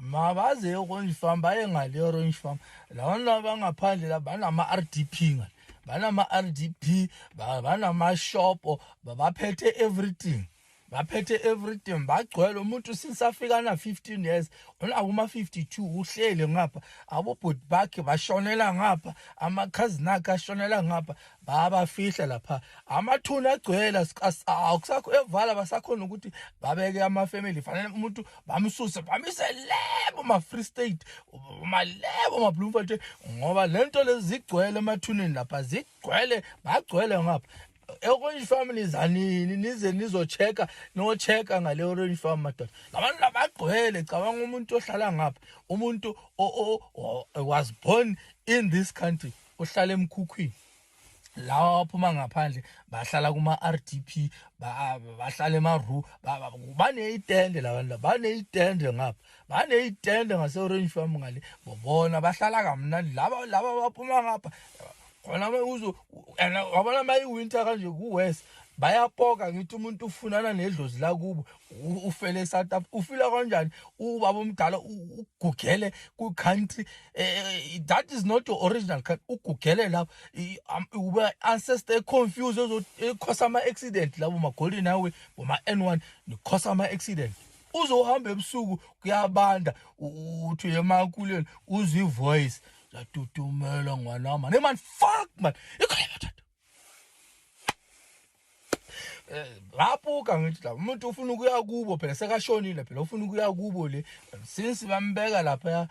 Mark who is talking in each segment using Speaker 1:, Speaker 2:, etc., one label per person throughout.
Speaker 1: mabaze orange farm baye ngale orange farm lawana bangaphandle la banama-r d p ngale banama-r d p banamashopo baphethe everything baphethe everything bagcwele umuntu since afika na-15 years unakuma-52 uhlele ngapha abobhuti bakhe bashonela ngapha amakhazini akhe ashonela ngapha bayabafihle lapha amathuna agcwele awukusakho evala basakhona ukuthi babeke amafamily fanele umuntu bamsuse bamise lebo ma-free state malebo ma-bloemfort ngoba le nto lezi zigcwele emathuneni lapha zigcwele bagcwele ngapha orange farm nizanini nize nizocheka nocheka ngale orange farm madoda labantu labagqwele cabanga umuntu ohlala ngapha umuntu was born in this country ohlala emkhukhwini lawa waphuma ngaphandle bahlala kuma-rdp bahlala emaru baneyitende la bantu baneyitende ngapha baneyitende ngase-orange farm ngale bobona bahlala kamnandi laba laba baphuma ngapha khona uzo and wabona uma iwinter kanje kuwest bayapoka ngithi umuntu ufunana nedlozi lakubo ufele eSouth Africa ufila kanjani ubaba omdala ugugele ku country eh, eh, that is not your original country ugugele lapho uba ancestor confused ezokhosa ama accident labo magoli nawe boma N1 nikhosa ama accident uzohamba ebusuku kuyabanda uthi emakuleni uzwi voice yatutumela ngwanama ne man fuck man ikhona ngabuka eh, ngithi la umuntu ufuna ukuya kubo phela sekashonile phela ufuna ukuya kubo le since bambeka lapha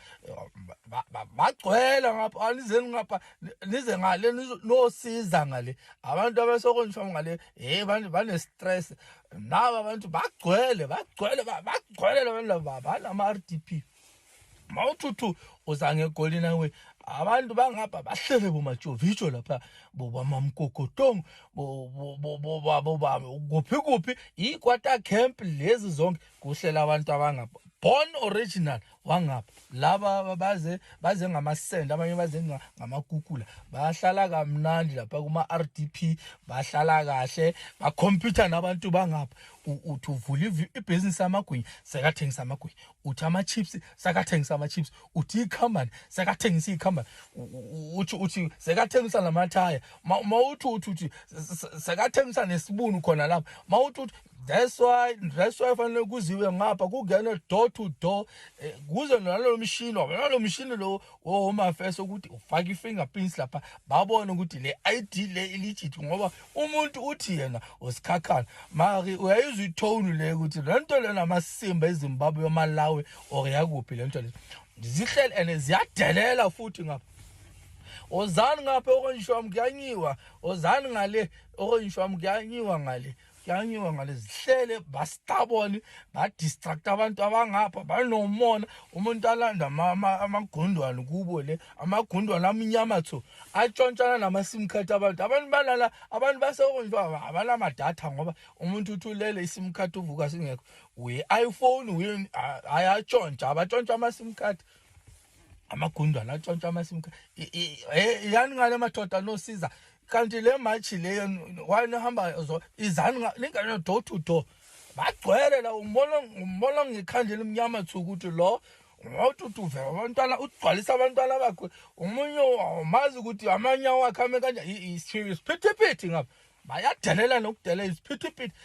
Speaker 1: bagcwela ngapha anizeni ngapha nize ngale nosiza ngale abantu abasokonjiswa ngale hey abantu bane stress naba abantu bagcwele bagcwele bagcwele labantu laba banama RDP mawuthuthu uzange egoli nawe abantu bangapha bahlele bomajovijo lapha bobamamkokotong kuphi kuphi i-quarter camp lezi zonke kuhlela abantu abangapha born original wangapha laba baze baze ngamasende abanye baze ngamakukula bahlala kamnandi lapha kuma-r d p bahlala kahle bakhompyutha nabantu bangapha uthi uvula ibhizinisi amagwinya sekathengisa amagwinya uthi ama-chips sakathengisa ama-chips uthi icompany sakathengisa icompany uthi uthi sekathengisa namathaya ma uthi uthi uthi sekathengisa nesibunu khona lapho ma uthi uthi that's why that's why fanele kuziwe ngapha kungene door to door eh, kuze nalo mshini nalo mshini lo womafeso ukuthi ufake i-fingerprints lapha babone ukuthi le ID le ilejit ngoba umuntu uthi yena usikhakhana mari uyayizwa itone le ukuthi le nto lena amasimba ezimbabwe yomalawi or yakuphi le nto le zihleli and ziyadelela futhi ngapha ozani ngapha okonishwam kuyanyiwa ozani ngale okonishwam kuyanyiwa ngale kuyanyiwa ngale zihlele bastaboni badistract abantu abangapha banomona umuntu alanda amagundwane kubo le amagundwa lamnyama tho atshontshana nama-sim card abantu abantu balala abantu basekonjwa abanamadatha ngoba umuntu uthi ulele i-sim card uvuka singekho uyi-iphone uyi hayi atshontsha abatshontsha ama-sim card amagundwana atshontsha ama-sim card yani ngale madoda nosiza kanti le matshi leyo wanihamba izani ningane door to door bagcwele la umbona umbona ngekhanda elimnyama thuku ukuthi lo ngotutuve abantwana ugcwalisa abantwana bakhe umunye awumazi ukuthi amanya wakhe ame kanje isiphithiphithi ngapha bayadelela nokudelela isiphithiphithi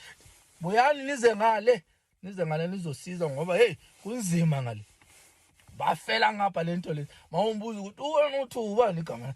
Speaker 1: buyani nize ngale nize ngale nizosiza ngoba heyi kunzima ngale bafela ngapha le nto lezi mawumbuza ukuthi uwena uthi ubani igama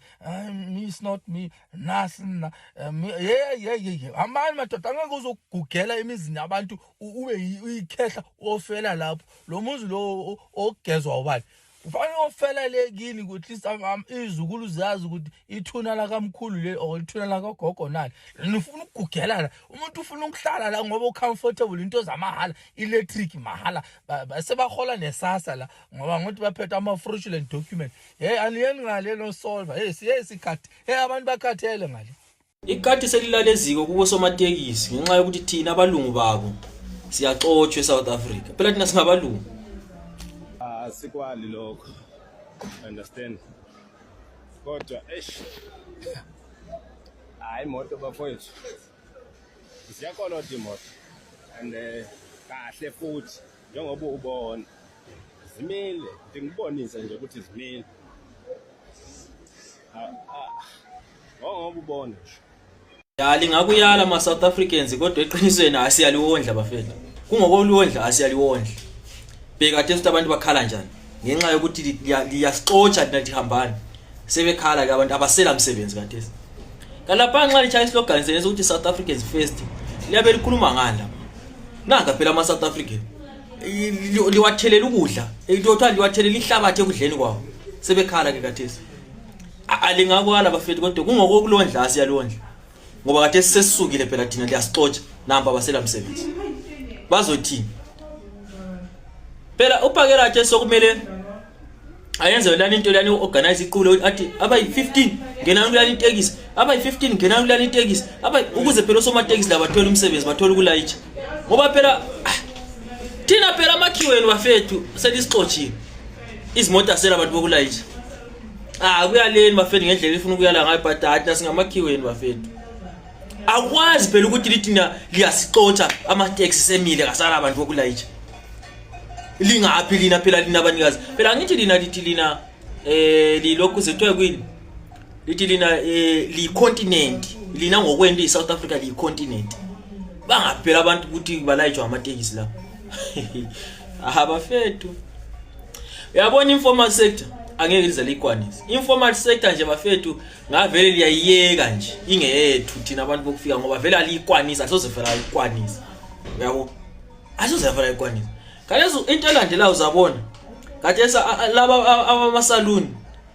Speaker 1: me is not me nasi na eh, yeyeyeye hambani madoda angeke uzogugela emizini yabantu ube uyikhehla ofela lapho lo muzi lo ogezwa ubani kufanele ofela le kini at least izukulu ziyazi ukuthi ithuna lakamkhulu leli or ithuna lakagogo nani nifuna ukugugelana umuntu ufuna ukuhlala la ngoba ucomfortable into zamahhala electric mahhala sebahola nesasa la ngoba ngokuthi baphethe ama-fraudulent document hey aniyeni ngale no solver hey siye sikhathi hey abantu bakhathele ngale Ikati
Speaker 2: selilaleziko kubo somatekisi ngenxa yokuthi thina abalungu babo siyaxotshwa eSouth Africa. Phela thina singabalungu. Asikwali
Speaker 3: lokho. Understand? Kodwa eish. Hayi moto bafowethu. Siyakolota imoto. And eh, kahle futhi njengoba ubona. Zimile, ngikubonise nje ukuthi zimile. ngoba ubone nje ya
Speaker 2: lingakuyala ama South Africans kodwa eqinisweni asiyaliwondla bafethu kungokolwondla asiyaliwondla bheka kade ukuthi abantu bakhala njani ngenxa yokuthi liyasixotsha lina lihambani sebekhala ke abantu abasela msebenzi kade kalapha nxa lichaya islogan senza ukuthi South Africans first liyabe likhuluma ngani lapha nanga phela ama South African liwathelela ukudla elithothwa liwathelela ihlabathi ekudleni kwawo sebekhala ke kade A- alingakwala bafethu kodwa kungokokulondla siyalondla ngoba kade sesisukile phela thina liyasixotsha namba abasela msebenzi bazothini phela uphakela athi sokumele ayenze yolani into lani organize iqule ukuthi athi abayi-15 ngenani kulani itekisi abayi-15 ngenani kulani itekisi abayi- ukuze phela osomatekisi la bathole umsebenzi bathole ukulayitsha ngoba phela ah, thina phela amakhiweni bafethu selisixotshile izimoto asela abantu bokulayisha ah kuyaleni bafethu ngendlela ifuna ukuyala ngayo but hathi nasingamakhiweni bafethu akwazi phela ukuthi lithina liyasixotsha ama-taxi semile kasala abantu bokulayitsha lingaphi lina phela lina abanikazi phela angithi lina lithi lina um lilokhu zethwe kwini lithi lina eh, liyicontinent lina ngokwento i-south africa liyicontinent bangaphela abantu ukuthi balayijwa amatekisi la abafethu uyabona informal sector angeke lize liyikwanise informal sector nje bafethu ngavele liyayiyeka nje ingeyethu thina abantu bokufika ngoba vele aliyikwanisa asoze vele ayikwanisa uyabo asoze vele ayikwanisa kalezo into elandelayo uzabona kade laba amasaluni